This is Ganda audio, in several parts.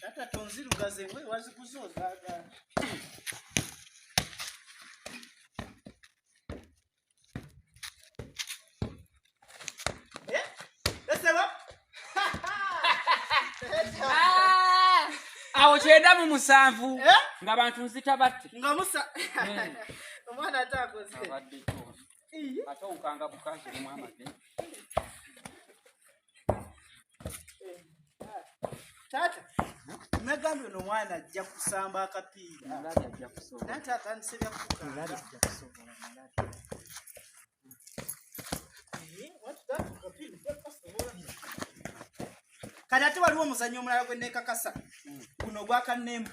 Tata tonzirugaze we waziguze ozaga. Eh? Esebo? Ah! awo kyenda mu musanvu Eh? ng'abantu nzita batte Nga musa. Eh. Omwana atakoze. Abadde ate onkanga bukazi omu amage taata nagambye no mwana ajja kusamba akapiira naye taata nsebya kukaa kati ate waliwo omuzannyo omulala gwe neekakasa guno gwakannemba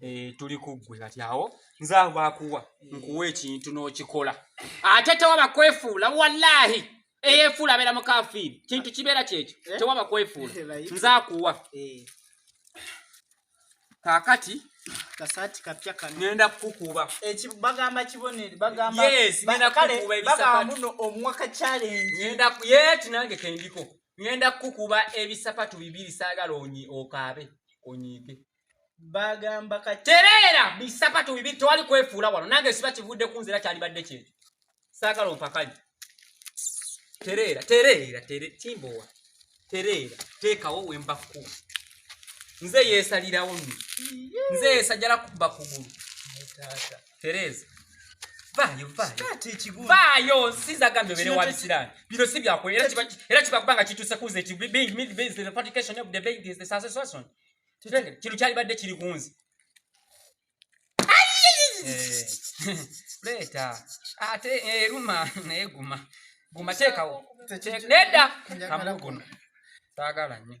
Eh, tuli kuggwe kati awo nze awo bakuwa nkuwa ekintu n'okikola ate tewaba kwefuula wallahi eyefuula abeera mukafiiri kintu kibeera kyekyo eh? tewaba kwefuula eh, nze akuwa kakati kasati kapya kano ngenda kukukuba ekibagamba kibonere bagamba yes ngenda kukuba ebisakati omuwaka challenge ngenda yeti nange kendiko ngenda kukuba ebisapatu bibiri saagala onyi okaabe onyiige bagamba katereera bisapatu bibiri tewali kwefuula wano nange siba kivudde ku nzira kyalibadde kyekyo saagala ompakanye tereera tereera tere kimbowa tereera teekawo wemba ku nze yeesalirawo nze yeesajala kuba kugulu tereza vaayo vaayo nsiza gambye obeere wa bisiraani bino si byakola era kiba kuba nga kituuse kuuza ekibeingmidbasation kino kyalibadde kiri kunzi leeta ate eruma naye guma guma teekawo nedda kamuguno saagala nnyo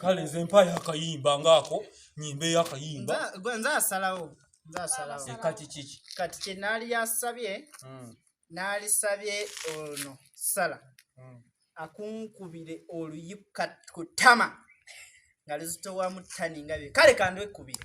kale nze mpayo akayimba ngaako nyimbeyo akayimba nze asalawo kati kiki kati kyenaali yasabye hmm. naalisabye ono sala hmm. akunkubire oluyi ku tama nga luzitowamu tani nga bye kale kandwekubire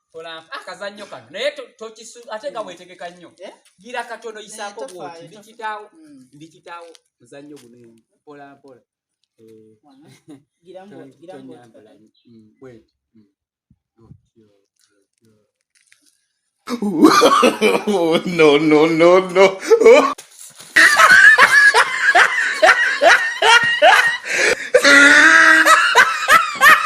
olampa ah, akazannyo kano naye tokisu ate nga wetegeka nnyo eh? gira katono yisaako bwoti ndikitaawo hmm. ndikitaawo muzannyo guno mpola mpola eh. Oh, no, no, no, no.